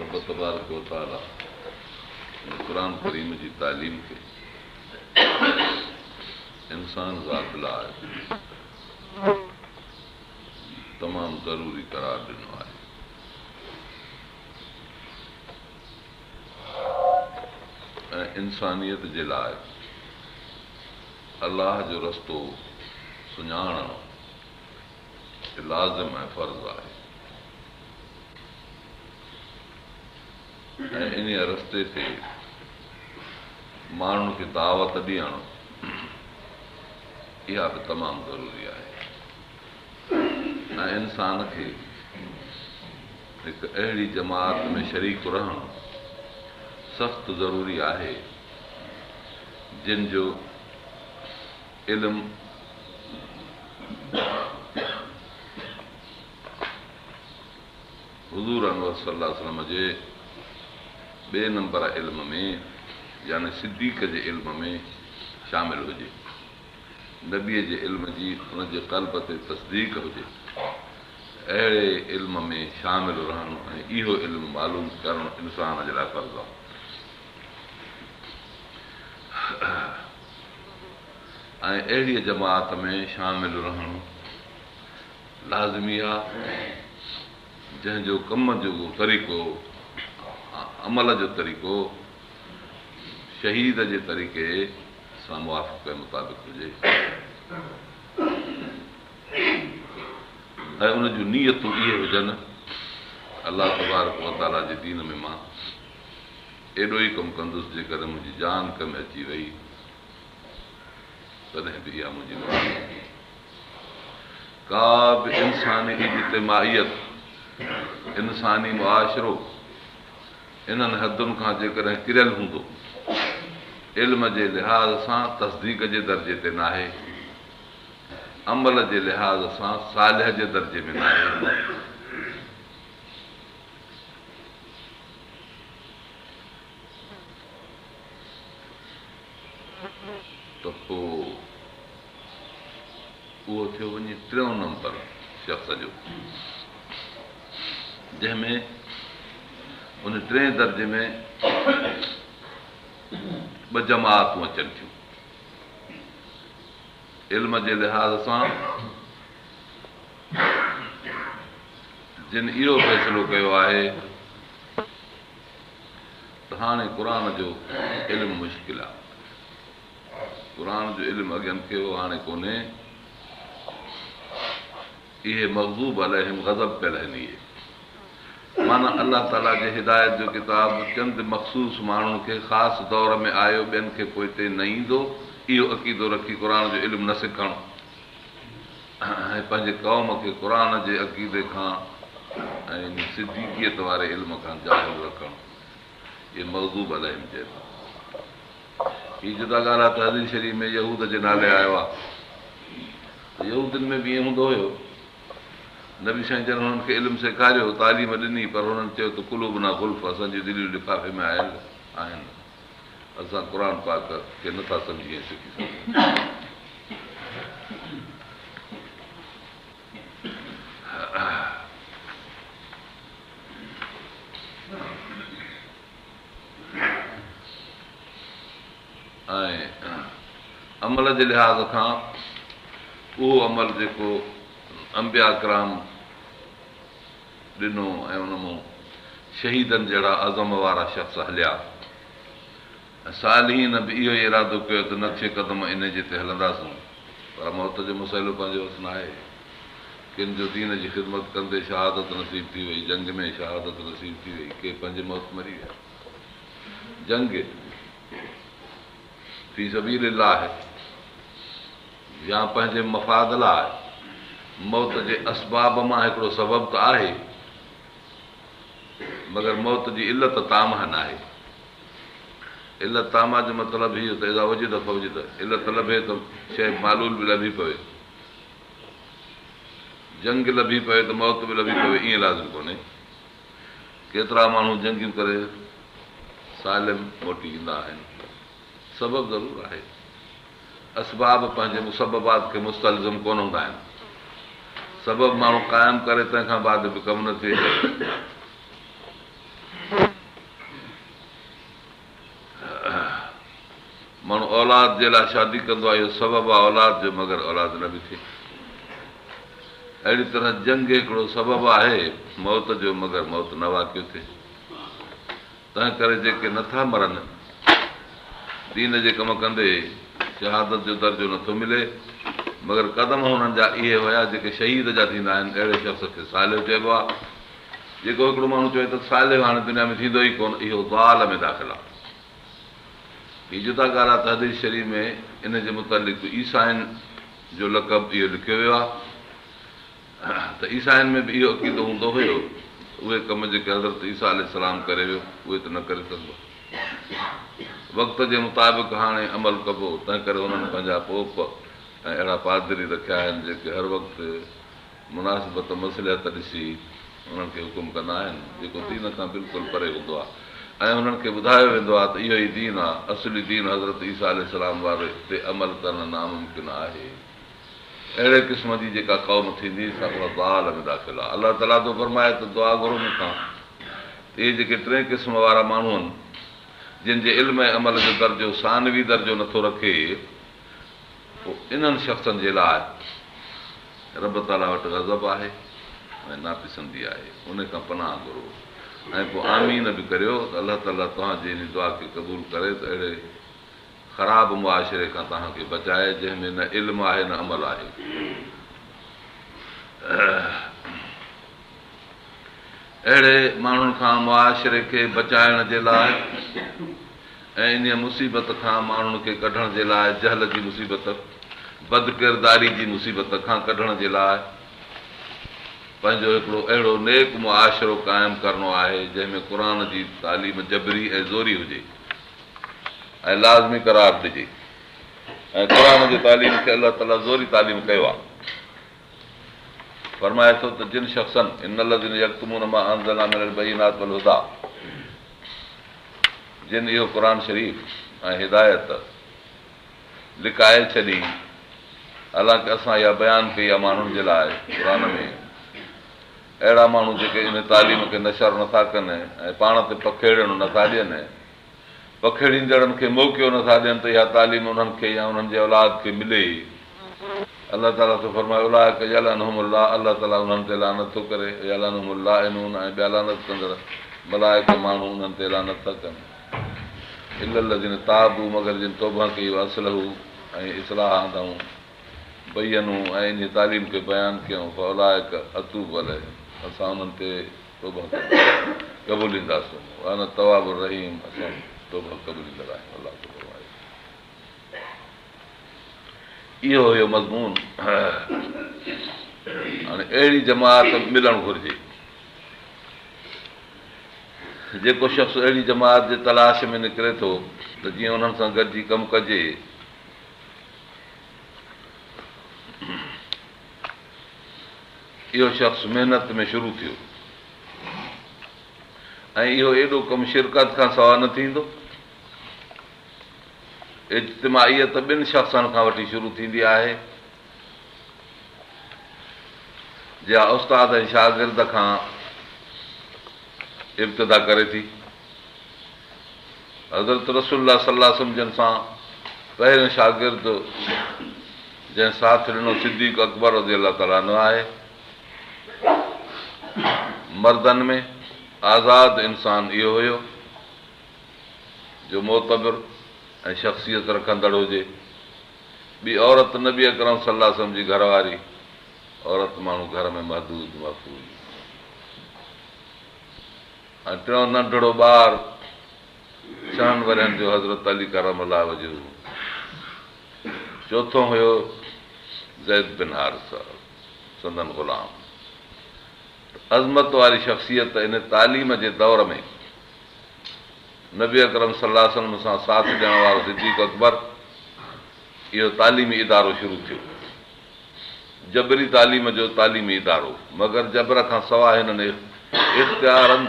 رب تبارڪ و تعاليٰ هن قرآن ڪريم جي تعليم کي انسان ذات لاء تمام ضروري قرار ڏنو آهي. ۽ انسانيت جي لاء الله جو رستو سڃاڻڻ، هي لازم ۽ فرض آهي ۽ انهيء رستي تي ماڻهن کي دعوت ڏيڻ اها به تمام ضروري آهي ۽ انسان کي هڪ اهڙي جماعت ۾ شريڪ رهڻ سخت ضروري آهي جن جو علم حضور انور صلي الله عليه وسلم جي ٻئي نمبر علم ۾ يعني صديق جي علم ۾ شامل هجي، نبيء جي علم جي ان جي قلب تي تصديق هجي، اهڙي علم ۾ شامل رهڻ ۽ اهو علم معلوم ڪرڻ انسان جي لاء فرض آهي. ۽ اهڙيء جماعت ۾ شامل رهڻ لازمي آهي، جنهن جو ڪم جو طريقو ۽ عمل جو طريقو شهيد جي طريقي سان موافقي مطابق هجي ۽ ان جون نيتون اهي هجن، الله تبارڪ وتعاليٰ جي دين ۾ مان. ايڏو ئي ڪم ڪندس جيڪڏهن منهنجي جان ڪن ۾ اچي وئي تڏهن به اها منهنجي مدد ڪندي. ڪا به انساني اجتماعيت، انساني معاشرو انهن حدن کان جيڪڏهن ڪريل هوندو، علم جي لحاظ سان تصديق جي درجي تي ناهي، عمل جي لحاظ سان صالح جي درجي ۾ ناهي، ته پوء اهو ٿيو وڃي ٽيون نمبر شخص جو جنهن ۾ ان ٽئين درجي ۾ ٻه جماعتون اچن ٿيون علم جي لحاظ سان جن اهو فيصلو ڪيو آهي ته هاڻي قرآن جو علم مشڪل آهي. قرآن جو علم اڳين کي هو هاڻي ڪونهي. اهي مغضوب عليهم غضب پيل آهن اهي معنيٰ الله تعالي جي هدايت جو ڪتاب چند مخصوص ماڻهن کي خاص دور ۾ آيو ٻين کي پوئتي نه ايندو اهو عقيدو رکي قرآن جو علم نه سکڻ ۽ پنهنجي قوم کي قرآن جي عقيدي کان يعني صديقيت واري علم کان جاهل رکڻ اهي مغضوب عليهم چئي ٿو. هي جدا ڳالهه آهي ته حديث شريف ۾ يهود جي نالي آيو آهي ته يهودين ۾ به ائين هوندو هيو. نبي سائين جن هنن کي علم سيکاريو، تعليم ڏني پر هنن چيو ته قلوبنا غلف اسان جون دليون لفافي ۾ آيل آهن. اسان قرآن پاڪ کي نه ٿا سمجهي ۽ سکي سگهون. عمل جي لحاظ کان اهو عمل جيڪو انبيا ڪرام ڏنو ۽ ان مون شهيدن جهڙا عزم وارا شخص هليا ۽ صالحين به اهو ئي ارادو ڪيو ته نه ٿئي قدم انهي جي تي هلنداسون پر موت جو مسئلو پنهنجو هٿ ناهي ڪن جو دين جي خدمت ڪندي شهادت نصيب ٿي وئي جنگ ۾ شهادت نصيب ٿي وئي ڪي پنهنجي موت مري ويا جنگ في سبيل الله يا پنهنجي مفاد لاء موت جي اسباب مان هڪڙو سبب ته آهي، مگر موت جي علت تامه ناهي. علت تامه جو مطلب هيء ته اذا وجد فوجد، علت لڀي ته شيء معلول به لڀي پوي. جنگ لڀي پوي ته موت به لڀي پوي ائين لازم ڪونهي. ڪيترا ماڻهو جنگيون ڪري سالم موٽي ايندا آهن. سبب ضرور آهي. اسباب پنهنجي مسببات کي مستلزم ڪونه هوندا آهن. سبب ماڻهو قائم ڪري تنهن کان بعد به ڪم نه ٿئي. ماڻهو اولاد جي لاء شادي ڪندو آهي، اهو سبب آهي اولاد جو مگر اولاد نه به ٿئي. اهڙي طرح جنگ هڪڙو سبب آهي موت جو مگر موت نه واقع ٿئي. تنهنڪري جيڪي نه ٿا مرن، دين جي ڪم ڪندي، شهادت جو درجو نه ٿو ملي، مگر قدم انهن جا اهي هيا جيڪي شهيد جا ٿيندا آهن، اهڙي شخص کي صالح چئبو آهي، جيڪو هڪڙو ماڻهو چوي ته صالح هاڻي دنيا ۾ ٿيندو ئي ڪونه، اهو ضال ۾ داخل آهي. هي جدا ڳالهه آهي ته حديث شريف ۾ ان جي متعلق عيسائين جو لقب اهو لکيو ويو آهي. ته عيسائين ۾ به اهو عقيدو هوندو هيو ته اهي ڪم جيڪي حضرت عيسيٰ عليه السلام ڪري ويو اهي ته نه ڪري سگهبا. وقت جي مطابق هاڻي عمل ڪبو تنهنڪري انهن پنهنجا پوپ ۽ اهڙا پادري رکيا آهن جيڪي هر وقت مناسبت مصلحت ڏسي انهن کي حڪم ڪندا آهن جيڪو دين کان بلڪل پري هوندو آهي ۽ انهن کي ٻڌايو ويندو آهي ته اهو ئي دين آهي اصلي دين حضرت عيسيٰ عليه السلام واري تي عمل ڪرڻ ناممڪن آهي. اهڙي قسم جي جيڪا قوم ٿيندي سا اها ضال ۾ داخل آهي. الله تعاليٰ ٿو فرمائي ته دعا گهرو مون کان ته اهي جيڪي ٽئين قسم وارا ماڻهو آهن جن جي علم ۽ عمل جو درجو ثانوي درجو نه ٿو رکي پوء انهن شخصن جي لاء رب تعاليٰ وٽ غضب آهي ۽ ناپسندي آهي انهي کان پناهه گهرو ۽ پوء آمين به ڪريو ته الله تعاليٰ توهان جي انهي دعا کي قبول ڪري ته اهڙي خراب معاشري کان توهان کي بچائي جنهن ۾ نه علم آهي نه عمل آهي. اهڙي ماڻهن کان معاشري کي بچائڻ جي لاء ۽ انهيء مصيبت کان ماڻهن کي ڪڍڻ جي لاء جهل جي مصيبت، بدڪرداري جي مصيبت کان ڪڍڻ جي لاء پنهنجو هڪڙو اهڙو نيڪ معاشرو قائم ڪرڻو آهي جنهن ۾ قرآن جي تعليم جبري ۽ زوري هجي. ۽ لازمي قرار ڏجي ۽ قرآن جي تعليم کي الله تعالي زوري تعليم ڪيو آهي فرمائي ٿو ته جن شخصن ان الذين يكتمون ما انزلنا من البينات والهدى جن اهو قرآن شريف ۽ هدايت لڪائي ڇڏي حالانڪه اسان اها بيان ڪئي آهي ماڻهن جي لاء قرآن ۾ اهڙا ماڻهو جيڪي ان تعليم کي نشر نه ٿا ڪن ۽ پاڻ تي پکيڙڻ نه ٿا ڏين ۽ پکيڙيندڙن کي موقعو نه ٿا ڏين ته اها تعليم انهن کي يا انهن جي اولاد کي ملي ئي. الله تعاليٰ ٿو فرمائي، اولئڪ يلعنهم الله، الله تعاليٰ انهن تي لعنت ٿو ڪري، ويلعنهم اللاعنون ۽ ٻيا لعنت ڪندڙ ملائڪ ماڻهو انهن تي لعنت ٿا ڪن. الا الذين تابوا مگر جن توبه ڪئي واصلحوا ۽ اصلاح آندائون. بينون ۽ انهيء تعليم کي بيان ڪيائون فاولئڪ اتوب عليهم اسان انهن تي توبهه قبولينداسون وانا التواب الرحيم اسان توبهه قبوليندڙ آهيون الله ٿو فرمائي اهو هيو مضمون هاڻي اهڙي جماعت ملڻ گهرجي جيڪو شخص اهڙي جماعت جي تلاش ۾ نڪري ٿو ته جيئن انهن سان گڏجي ڪم ڪجي اهو شخص محنت ۾ شروع ٿيو ۽ اهو ايڏو ڪم شرڪت کان سوا نه ٿيندو اجتماعيت ٻن شخصن کان وٺي شروع ٿيندي آهي جا استاد ۽ شاگرد کان ابتدا ڪري ٿي حضرت رسول الله صلي الله عليه وسلم جن سان پهريون شاگرد جنهن ساٿ ڏنو صديق اڪبر رضي الله تعالٰي عنه آهي. مردن ۾ آزاد انسان اهو هيو جو معتبر ۽ شخصيت رکندڙ هجي. ٻي عورت نبي اڪرم صلي الله عليه وسلم جي گهر واري عورت ماڻهو گهر ۾ محدود محفوظ. ۽ ٽيون ننڍڙو ٻار ڇهن ورهين جو حضرت علي ڪرم الله وجهه هو. چوٿون هيو زيد بن حارثه سندن غلام. ته عظمت واري شخصيت ان تعليم جي دور ۾ نبي اڪرم صلي الله عليه وسلم سان ساٿ ڏيڻ وارو صديق اڪبر اهو تعليمي ادارو شروع ٿيو. جبري تعليم جو تعليمي ادارو، مگر جبر کان سواء هنن اختيارن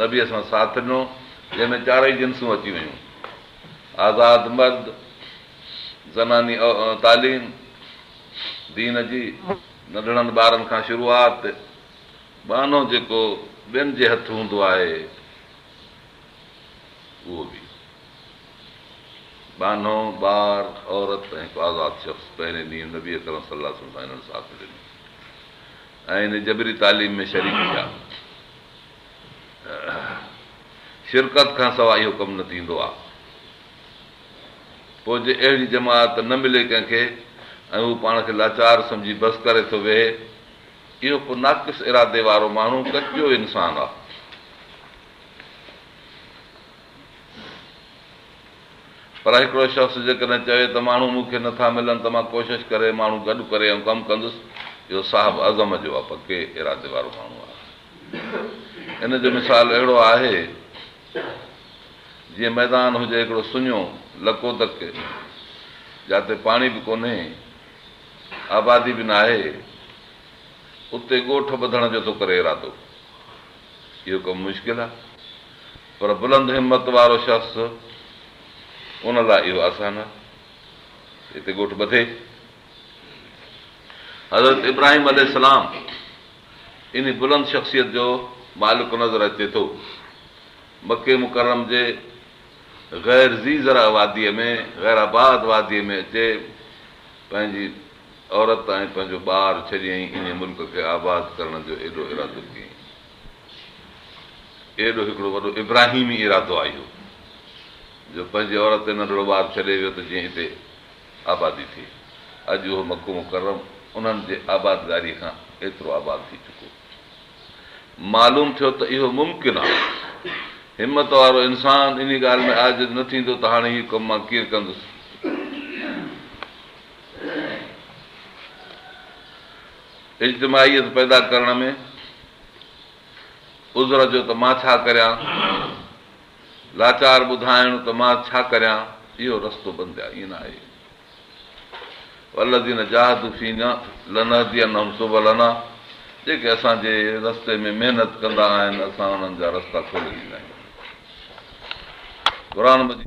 نبيء سان ساٿ ڏنو، جنهن ۾ چارئي جنسون اچي ويون، آزاد مرد، زناني تعليم، دين جي، ننڍڙن ٻارن کان شروعات، ٻانهو جيڪو ٻين جي هٿ هوندو آهي اهو به. ٻانهو، ٻار، عورت ۽ هڪ آزاد شخص پهرين ڏينهن نبي اڪرم صلي الله عليه وسلم سان هنن ساٿ ڏنو ۽ ان جبري تعليم ۾ شريڪ ٿيا. شرڪت کان سواء اهو ڪم نه ٿيندو آهي. پوء جي اهڙي جماعت نه ملي ڪنهن کي ۽ هو پاڻ کي لاچار سمجهي بس ڪري ٿو ويهي، اهو ڪو ناقص ارادي وارو ماڻهو ڪچو انسان آهي. پر هڪڙو شخص جيڪڏهن چوي ته ماڻهو مون کي نٿا ملن ته مان ڪوشش ڪري ماڻهو گڏ ڪري ائين ڪم ڪندس. اهو صاحب عزم جو ۽ پڪي ارادي وارو ماڻهو آهي. ان جو مثال اهڙو آهي جيئن ميدان هجي هڪڙو سڃو لڪو دڪ جاتي پاڻي به ڪونهي آبادي به ناهي اتي ڳوٺ ٻڌڻ جو ٿو ڪري ارادو. اهو ڪم مشڪل آهي، پر بلند همت وارو شخص ان لاء اهو آسان آهي. هتي ڳوٺ ٻڌي. حضرت ابراهيم عليه السلام انهي بلند شخصيت جو مالڪ نظر اچي ٿو. مڪي مڪرم جي غير ذي زرع واديء ۾ غير آباد واديء ۾ اچي پنهنجي عورت ۽ پنهنجو ٻار ڇڏيائين انهي ملڪ کي آباد ڪرڻ جو ايڏو ارادو ڪيئي. ايڏو هڪڙو وڏو ابراهيمي ارادو آ اهو جو پنهنجي عورت ۽ ننڍڙو ٻار ڇڏي ويو ته جيئن هتي آبادي ٿئي. اڄ اهو مڪو مڪرم انهن جي آبادگاري کان ايترو آباد ٿي چڪو. معلوم ٿيو ته اهو ممڪن آ. همت وارو انسان انهي ڳالهه ۾ عاجز نه ٿيندو ته هاڻي هي ڪم مان ڪيئن ڪندس. اجتماعيت پيدا ڪرڻ ۾ عذر جو ته مان ڇا ڪريان، لاچار ٻڌائڻ ته مان ڇا ڪريان، اهو رستو بنديا ائين نه آهي. والذين جاهدوا فينا لنهدينهم سبلنا جيڪي اسان جي رستي ۾ محنت ڪندا آهن اسان انهن جا رستا کولي ڏيندا آهيون. قرآن مجيد